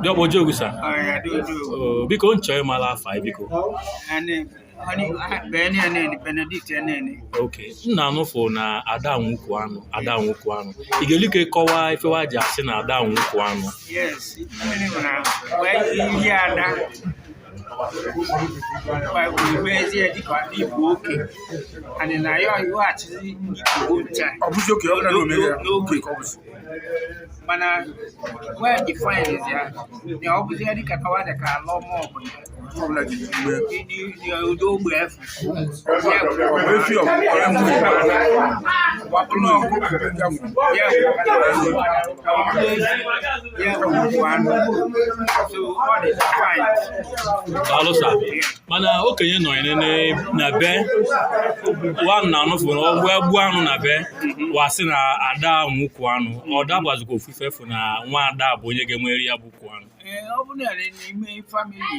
Diọkpa Ojogwu sa. Ọya dị otu. Oh, biko nchọ ịmala afa ị biko. Anyị anyị bene ya nene Benedict ya nene. Okay. M na-anụfụ na ada nwe ukwu anụ, ada nwe ukwu anụ. Ị ga-eli ike kọwaa ife wa ji asị na ada nwe ukwu anụ. Yes. Mmiri nwere agwa. Wee ihe ada. mezie dịka ndị Igbo oke anyị na ya iweghachizi Igbo ncha mana wee define ya na ọ bụzi ya dịka tawa dị ka ala ọma ọbụla ndị ogbe efu alụsa mana okenye nọ ya nene na be wa na anụ fụrụ ọgwụ egbu anụ na be wa sị na ada nwe ukwu anụ ọ dabazikwa ofufe fụ na nwa ada bụ onye ga-enwere ya bụ ukwu anụ Ee, ọ bụrụ na n'ime famili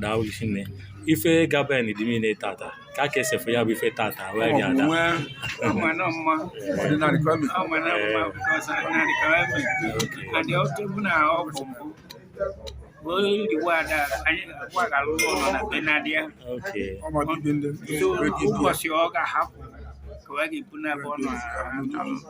daalụ gị nne ife gaben dị niile tata ka ka esefu ya bụ ife tata wee bịa ada ụbọchị ọ ga-ahapụ ka ọ ga-ebu na-abụ ọnụ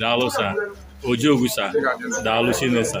daalụ sa ojiogwu sa daalụ chine sa